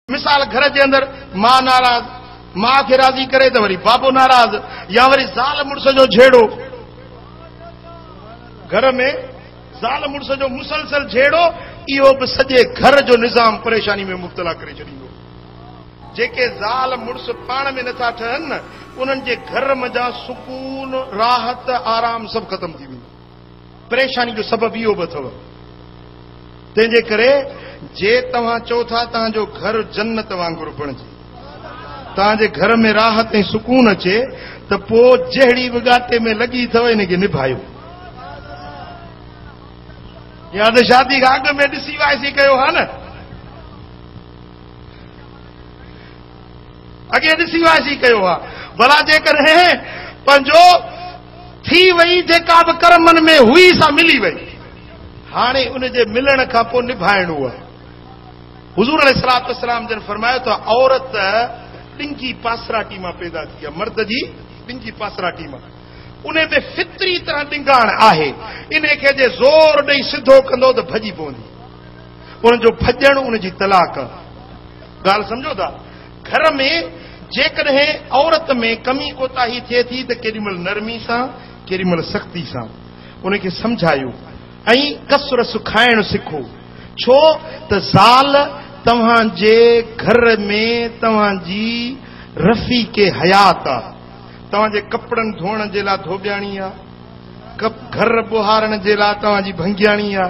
مثال، گهر جي اندر ماء ناراض، ماء کي راضي ڪري ته وري بابو ناراض يا وري زال مڙس جو جهيڙو، گهر ۾ زال مڙس جو مسلسل جهيڙو اهو به سڄي گهر جو نظام پريشاني ۾ مبتلا ڪري ڇڏيندو. جيڪي زال مڙس پاڻ ۾ نٿا ٺهن نه انهن جي گهر منجهان سڪون، راحت، آرام سڀ ختم ٿي ويندو. پريشاني جو سبب اهو به اٿو. تنهن جي ڪري جي توهان چئو ٿا توهان جو گهر جنت وانگر بڻجي، توهان جي گهر ۾ راحت ۽ سڪون اچي ته پوء جهڙي به ڳاٽي ۾ لڳي اٿو ان کي نڀايو. جيئن اڌ شادي کان اڳ ۾ ڏسي وائسي ڪيو ها نه، اڳي ڏسي وائسي ڪيو ها، ڀلا جيڪڏهن پنهنجو ٿي وئي جيڪا به ڪرمن ۾ هئي سا ملي وئي هاڻي ان جي ملڻ کان پوء نڀائڻو آهي حضور عليه الصلاه والسلام جن فرمايو ته عورت ڏنگي پاسراٽي مان پيدا ٿي آهي مرد جي ڏنگي پاسراٽي مان ان ۾ فطري طرح ڏنگاڻ آهي ان کي جي زور ڏئي سڌو ڪندو ته ڀڄي پوندي ان جو ڀڄڻ ان جي طلاق ڳالهه سمجھو ٿا گهر ۾ جيڪڏهن عورت ۾ ڪمي ڪوتاهي ٿئي ٿي ته ڪيڏي مهل نرمي سان ڪيڏي مهل سختي سان ان کي سمجهايو ۽ ڪس رس کائڻ سکو ڇو ته زال توهان جي گهر ۾ توهان جي رفيق حيات آ توهان جي ڪپڙن ڌوئڻ جي لا ڌوٻياڻي آ گهر ٻوهارڻ جي لا توهان جي ڀنگياڻي آ.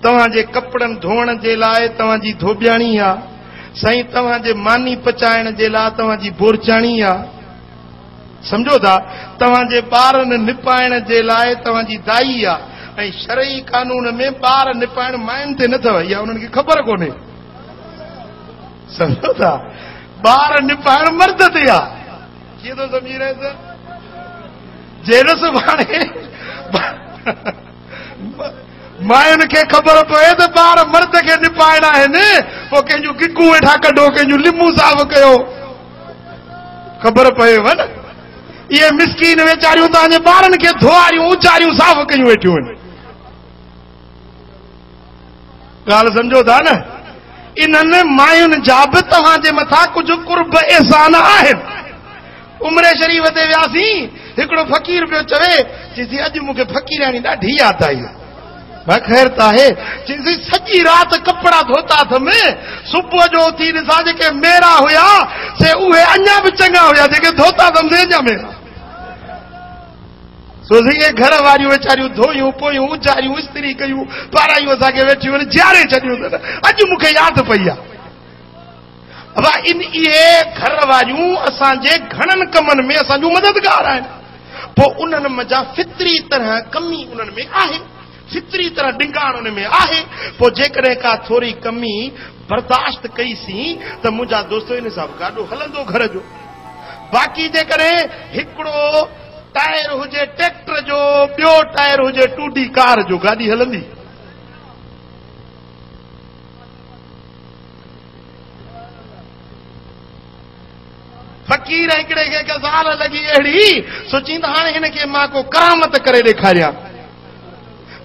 توهان جي ڪپڙن ڌوئڻ جي لاء توهان جي ڌوٻياڻي آ، سائين توهان جي ماني پچائڻ جي لاء توهان جي بورچاڻي آ. سمجهو ٿا؟ توهان جي ٻارن نپائڻ جي لاء توهان جي دائي آ ۽ شرعي قانون ۾ ٻار نپائڻ ماين تي نه اٿو، اها انهن کي خبر ڪونهي. سمجهو ٿا؟ ٻار نپائڻ مرد تي آ. ڪيئن ٿو سمجهي رهيس؟ جنهن سڀاڻي ماين کي خبر پوي ته ٻار مرد کي نپائڻا آهن، پوء ڪنهن جون گگون ويٺا ڪڍو، ڪنهن جون لمون صاف ڪيو. خبر پويو نه، اهي مسڪين ويچاريون توهان جي ٻارن کي ڌوئاريون، اچاريون صاف ڪيون ويٺيون آهن. ڳالهه سمجهو ٿا نه؟ انهن ماين جا به توهان جي مٿان ڪجهه قرب احسان آهن. عمري شريف تي وياسين، هڪڙو فقير پيو چوي، چيسي اڄ مون کي فقيرياڻي ڏاڍي ياد آئي. ڀا خير ته آهي؟ چيسي سڄي رات ڪپڙا ڌوتا اٿم، صبح جو اٿي ڏسان جيڪي ميرا هيا سي اهي اڃا به چڱا هيا، جيڪي ڌوتا اٿم سي اڃا ميرا. سو سيئي گهر واريون ويچاريون ڌويون پويون، اجاريون، استري ڪيون، پارايون اسان کي ويٺيون آهن، جياري ڇڏيون اٿن. اڄ مون کي ياد پئي آهي. ابا ان اهي گهر واريون اسان جي گهڻن ڪمن ۾ اسان جون مددگار آهن. پوء انهن منجهان فطري طرح ڪمي انهن ۾ آهي. فطري طرح ڊنگاڻ انهن ۾ آهي. پوء جيڪڏهن ڪا ٿوري ڪمي برداشت ڪئي سين ته منهنجا دوستو ان حساب گاڏو هلندو گهر جو. باقي جيڪڏهن هڪڙو ٽائر هجي ٽريڪٽر جو، ٻيو ٽائر هجي ٽوڊي ڪار جو، گاڏي هلندي. فقير هڪڙي کي غزال لڳي اهڙي، سو چيند هاڻي هن کي مان ڪو ڪرامت ڪري ڏيکاريان.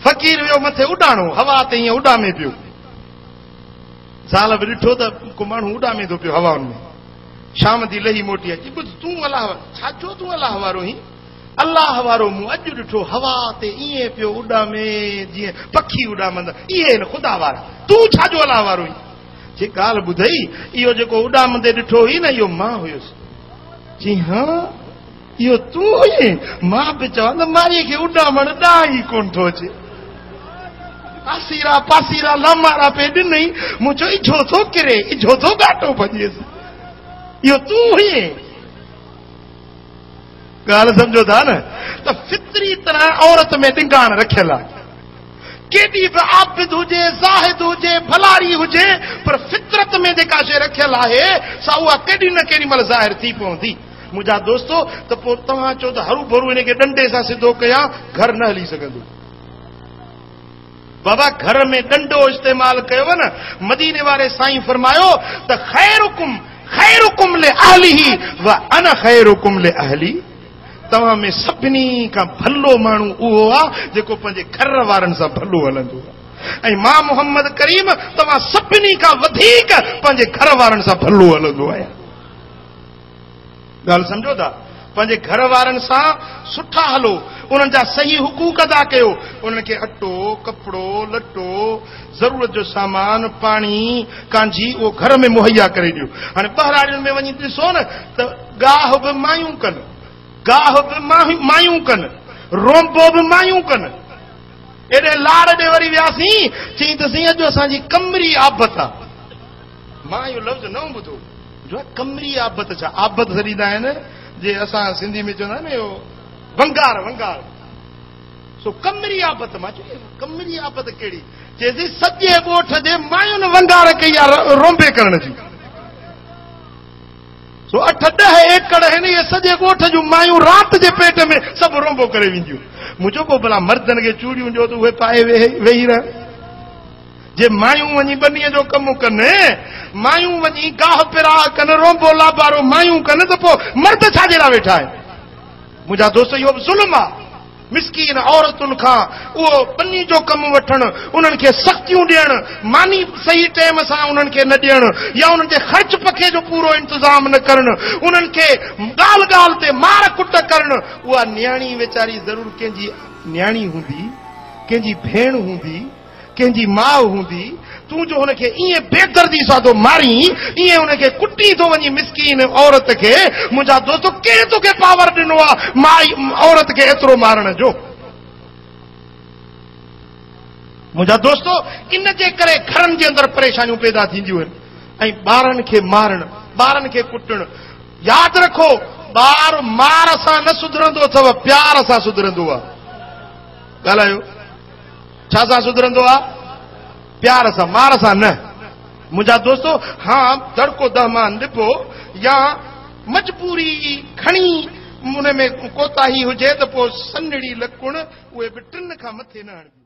فقير ويو مٿي اڏاڻو، هوا تي ائين اڏامي پيو. زال به ڏٺو ته ڪو ماڻهو اڏامي ٿو پيو هوائن ۾. شام ٿي لهي موٽي اچي ٻڌ تون الله وارو ڇا جو تون الله وارو هين الله وارو مون اڄ ڏٺو هوا تي ايئن پيو اڏامي جيئن پکي اڏامندا اهي هن خدا وارا تون ڇا جو الله وارو هين جي ڳالهه ٻڌئي اهو جيڪو اڏامندي ڏٺو هئي نه اهو مان هيس چي هاڻ اهو تون هئين؟ مان به چوان ته مائيء کي اڏامڻ ڏانء ئي ڪونه ٿو اچي. آسيرا پاسيرا لامارا پئي ڏنئي. مون چيو اجهو ٿو ڪري، اجهو ٿو ڳاٽو ڀڄيس. اهو تون هئين؟ ڳالهه سمجهو ٿا نه ته فطري طرح عورت ۾ ڏنگاڻ رکيل آهي. ڪيڏي به عابد هجي، زاهد هجي، ڀلاري هجي پر فطرت ۾ جيڪا شيء رکيل آهي سا اها ڪيڏي نه ڪيڏي مهل ظاهر ٿي پوندي. منهنجا دوستو ته پوء توهان چئو ته هرو ڀرو هن کي ڏنڊي سان سڌو ڪيان گهر نه هلي سگهندو. بابا گهر ۾ ڏنڊو استعمال ڪيو نه مديني واري سائين فرمايو ته خيرڪم خيرڪم لاهله وانا خيرڪم لاهلي توهان ۾ سڀني کان ڀلو ماڻهو اهو آ جيڪو پنهنجي گهر وارن سان ڀلو هلندو آ ۽ مان محمد ڪريم توهان سڀني کان وڌيڪ پنهنجي گهر وارن سان ڀلو هلندو آهيان ڳالهه سمجهو ٿا؟ پنهنجي گهر وارن سان سٺا هلو، انهن جا صحيح حقوق ادا ڪيو، انهن کي اٽو، ڪپڙو، لٽو، ضرورت جو سامان، پاڻي، ڪانجهي اهو گهر ۾ مهيا ڪري ڏيو. هاڻي ٻهراڙين ۾ وڃي ڏسو نه ته ڳاهه به مايون ڪن، گاهه به مايون ڪن، رونبو به مايون ڪن. ايڏي لاڙ ڏي وري وياسين، چيائين ته سائين اڄ اسان جي ڪمري آبت آ. مان اهو لفظ نئون ٻڌو جو ڪمري آبت جا آبت سڏيندا آهن جي اسان سنڌي ۾ چوندا آهن اهو ونگار ونگار سو ڪمري آبت مان چي ڪمري آبت ڪهڙي چي سي سڄي ڳوٺ جي مايون ونگار ڪئي آ رومبي ڪرڻ جي سو اٺ ڏهه ايڪڙ هن اهي سڄي ڳوٺ جون مايون رات جي پيٽ ۾ سڀ رومبو ڪري وينديون مون چيو پو بلا مردن کي چوڙيون ڏيو ته اهي پائي ويهي رهن جي مايون وڃي ٻنيء جو ڪم ڪن، مايون وڃي گاهه پراء ڪن، رونبو لابارو مايون ڪن ته پوء مرد ڇاجي لاء ويٺا آهن؟ منهنجا دوست اهو به ظلم آهي. مسڪين عورتن کان اهو ٻني جو ڪم وٺڻ، انهن کي سختيون ڏيڻ، ماني صحيح ٽيم سان انهن کي نه ڏيڻ يا انهن جي خرچ پکي جو پورو انتظام نه ڪرڻ، انهن کي ڳالهه ڳالهه تي مار ڪٽ ڪرڻ، اها نياڻي ويچاري ضرور ڪنهن جي نياڻي هوندي، ڪنهن جي ڀيڻ هوندي. ڪنهن جي ماء هوندي، تون جو هن کي ائين بي دردي سان ٿو مارين، ائين هن کي ڪٽين ٿو وڃين مسڪين عورت کي، منهنجا دوستو ڪنهن توکي پاور ڏنو آ مائي عورت کي ايترو مارڻ جو؟ منهنجا دوستو ان جي ڪري گهرن جي اندر پريشانيون پيدا ٿينديون آهن ۽ ٻارن کي مارڻ، ٻارن کي ڪٽڻ، ياد رکو ٻار مار سان نه سڌرندو اٿو پيار سان سڌرندو آ. ڳالهايو. ڇا سان سڌرندو آ؟ پيار سان، مار سان نه. منهنجا دوستو، ها دڙڪو دهه مان نبو يا مجبوري ئي کڻي ان ۾ ڪوتاهي هجي ته پوء سنهڙي لڪڻ اهي به ٽن کان مٿي نه هڻبيون.